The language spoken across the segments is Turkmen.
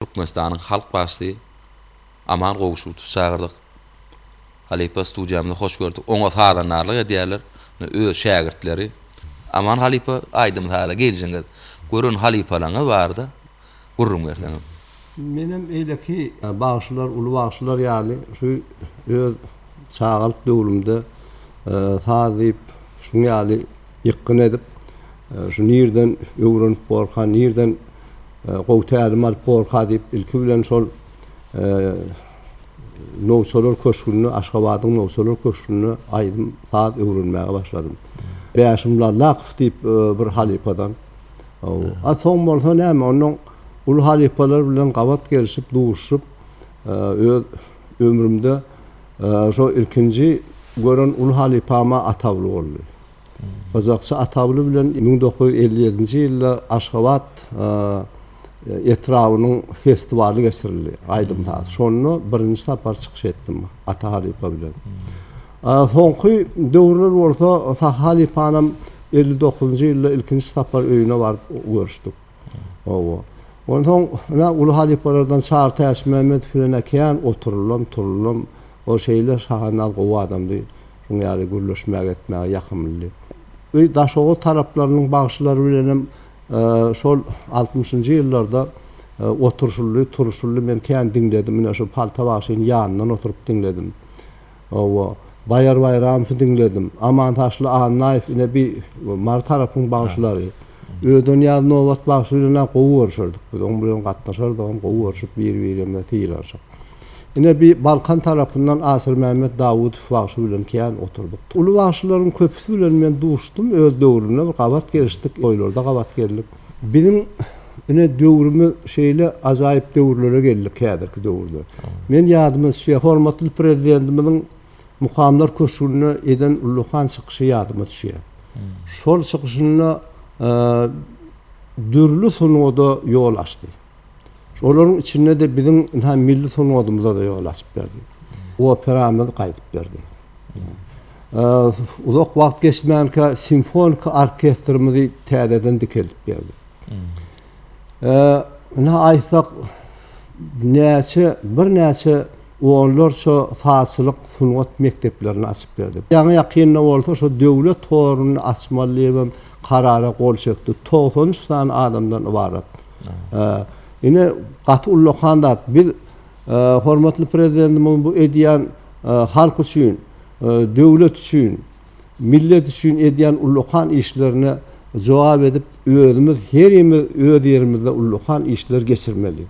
Türkmenistanyň Halk Başysy Aman Gowşutowy çagyrdyk. Halypa studiýamyza hoş gördük. Oňa sazandarlyk edýärler öz şägirtleri. Aman halypa aýdym-saza geljeňiz. Gören halypalaryňyz barada gürrüň berseňiz. Menem beýleki bagşylar, uly bagşylar ýaly şu öz çagalyk döwrümde saz diýip şuň ýaly ýykgyn edip, şu nirden öwrenip borka, nirden Gowy tälim alyp borka diýip ilki bilen şol Nowçalar köşgünde Aşgabadyň Nowçalar köşgünde aýdym saz öwrenmäge başladym. Bäşim Lallakow diýip bir halypadan. A soň bolsa näme onnoň uly halypalar bilen gabat gelşip duşup öz ömrümde şo ilkinji gören uly halypama atawly boldy. Gyzakçy Atagly bilen müň dokuz ýüz elli ýedinji ýylda Aşgabat etrabynyň festiwaly geçirildi, aýdym-saz. Şonda birinji sapar çykyş etdim Ata halypa bilen. Soňky döwürler bolsa Sahy halypanam elli dokuzynjy ýylda ilkinji sapar öýüne baryp görüşdik. Hawa. Onsoň ine uly halypalardan Çary Täçmämmedow bilen ä kän oturyldym, turulym. Ol şeýle şahandaz gowy adamdy. Şuň ýaly gürleşmäge etmäge ýakymlydy. Bu Daşoguz taraplarynyň bagşylary bilenem şol altmyşynjy ýyllarda oturşyldy, turuşyldy. Men kän diňledim. Ine şu Palta bagşyny ýanyndan oturyp diňledim. Hawa, Baýar Baýramowy diňledim. Amantaşly Annaýew ine bi Mary tarapyň bagşylary. Ödenýaz Nobat bagşy bilen-ä gowy görşerdik biz. Oň bilen gatnaşardygam, gowy görşüp bir-birimize sylanşyp. Ine bi Balkan tarapyndan Asyrmämmet Dawudow bagşy bilen kän oturdyk. Uly bagşylaryň köpüsi bilen men duşdum öz döwrümde bir gabat gelişdik, toýlarda gabat geldik. Biziň ine döwrümiz şeýle ajaýyp döwürlere geldik häzirki döwürde. Men ýadyma düşýär, hormatly Prezidentimiziň Mukamlar köşgünde eden ullakan çykyşy ýadyma düşýär. Şol çykyşynda dürli sungada ýol açdy. Şolaryň içinde-de biziň ynha milli sungatymyza-da ýol açyp berdi. Operamyzy gaýdyp berdi. Uzak wagt geçmänkä simfonik orkestrimizi täzeden dikeldip berdi. Ynha aýtsak, näçe, birnäçe onlarça sazçylyk sungat mekdeplerini açyp berdi. Ýaňy-ýakynda bolsa şu döwlet horuny açmaly diýibem karara gol çekdi. Togsan üç sany adamdan ybarat. Ine, gaty ullakan zat. Biz hormatly Prezidentimiziň bu edýän halk üçin, döwlet üçin, millet üçin edýän ullakan işlerine jogap edip, özümiz herimiz öz ýerimizde ullakan işler geçirmeli.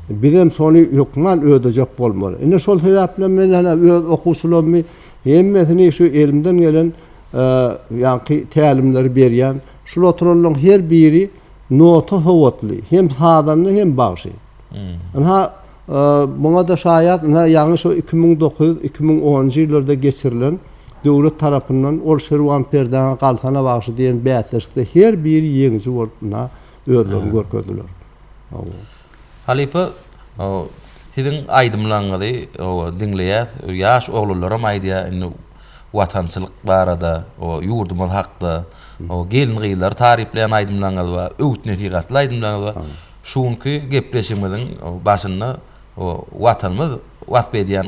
Bizem şony hökman ödejek bolmaly. Ine, şol sebäpli men ene öz okuwçylarymy hemmesini şu elimden gelen ýaňky tälimleri berýän. Şul oturanlaryň her biri, Nota sowatly, hem sazanda hem bagşy. Ynha, muňa-da şaýat, ynha ýaňy şu iki müň dokuz ýüz, iki müň onunjy ýyllarda geçirilen döwlet tarapyndan Ol Şirwan perdäňe galsana bagşy diýen bäsleşikde her biri ýeňiji bolup ynha özlerini görkezdiler. Hawa. Halypa, siziň aýdymlaryňyzy, hawa, diňleýäs. Ýaş oglanlaram aýdýar indi. Watançylyk barada, o ýurdumyz hakda, o gelin-gyzlary taryplaýan aýdymlaryňyz bar, öwüt-nesihatly aýdymlaryňyz bar. Şu günki gepleşigimiziň başynda o Watanymyz wasp edýän